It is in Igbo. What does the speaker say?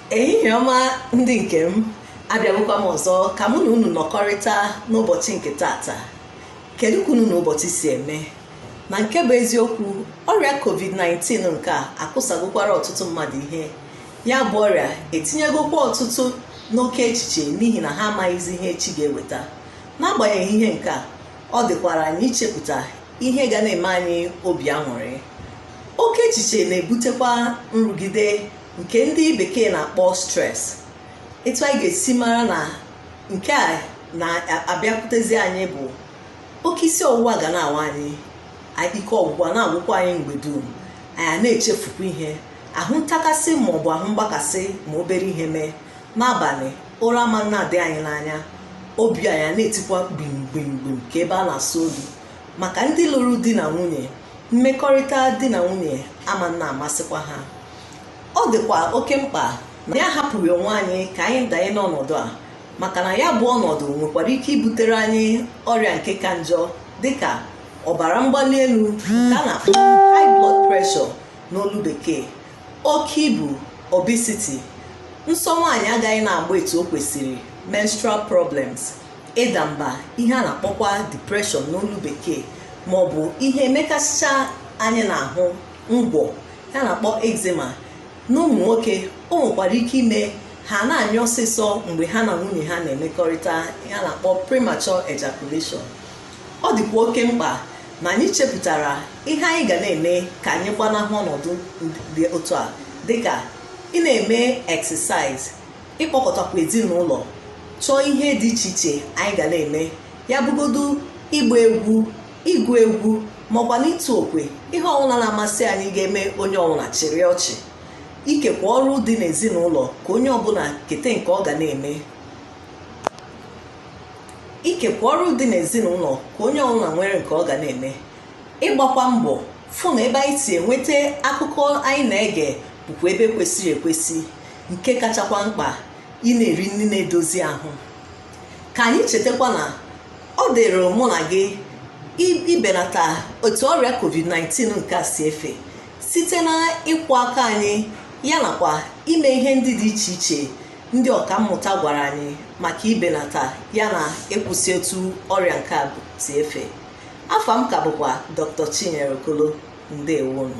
ehihie ọma ndị nke m abịagokwa m ọzọ ka mụ na unu nọkọrịta n'ụbọchị nke taata kedu ka unu na ụbọchị si eme na nke bụ eziokwu ọrịa covid-19 nke a akụsagokwara ọtụtụ mmadụ ihe ya bụ ọrịa etinyegokwa ọtụtụ n'oke echiche n'ihi na ha amaghịzi ihe echi ga-eweta n'agbanyeghị ihe nke a ọ dịkwara anyị ichepụta ihe ga na-eme anyị obi aṅụrị oke echiche na-ebutekwa nrụgide nke ndị bekee na-akpọ stress etu anyị ga-esi mara na nke a na-abịakwutezi anyị bụ oke isi ọwụwa ga na-awa anyị ike ọgwụgwụ a na-agwụkwa anyị mgbe dum anyị a na-echefukwa ihe ahụ ntakasị ma ọ bụ ahụ mgbakasị ma obere ihe mee n'abalị ụra ama na-adị anyị n'anya obi anyị na-etikwa gbim gbim gbim ka ebe a na-asụ odu maka ndị lụrụ di na nwunye mmekọrịta di na nwunye ama na-amasịkwa ha ọ dịkwa oke mkpa na anyị ahapụghị onwe anyị ka anyị danye n'ọnọdụ a maka na ya bụ ọnọdụ nwekwara ike ibutere anyị ọrịa nke ka njọ dịka ọbara mgbali elu nke a na-akpọ high blood pressure n'olu bekee oke ibu obesity nsọ nwaanyị agaghị na-agba etu o kwesịrị menstrual problems ịda mba ihe a na-akpọkwa depression n'olu bekee ma ọ bụ ihe mekasịcha anyị n'ahụ ngwọ ihe a na-akpọ eczema n'ụmụ nwoke o nwekwara ike ime ha na-anyụ ọsịsọ mgbe ha na nwunye ha na-emekọrịta ihe a na-akpọ premature ejaculation ọ dịkwa oke mkpa na anyị chepụtara ihe anyị ga na-eme ka anyị gbanahụ ọnọdụ dị otu a dịka ị na-eme exercise ịkpọkọtakwa ezinụlọ chọọ ihe dị iche iche anyị ga na-eme ya bụgodu ịgba egwu ịgụ egwu makwa na ịtụ okwe ihe ọbụla na-amasị anyị ga-eme onye ọbụla chịrị ọchị ikekwa ọrụ dị n'ezinụlọ ka onye ọbụla kete nke ọ ga na-eme ikekwa ọrụ dị n'ezinụlọ ka onye ọbụla nwere nke ọ ga na-eme ịgbakwa mbọ fụ na ebe anyị si enweta akụkọ anyị na-ege bụkwa ebe kwesịrị ekwesị nke kachakwa mkpa ị na-eri nri na-edozi ahụ ka anyị chetakwa na ọ dịrị mụ na gị ibenata otu ọrịa covid-19 nke a si efe site na ịkwọ aka anyị ya nakwa ime ihe ndị dị iche iche ndị ọkammụta gwara anyị maka ibenata ya na ịkwụsị etu ọrịa nke a si efe afa m ka bụkwa Dr. Chinyere Okolo ndewo nụ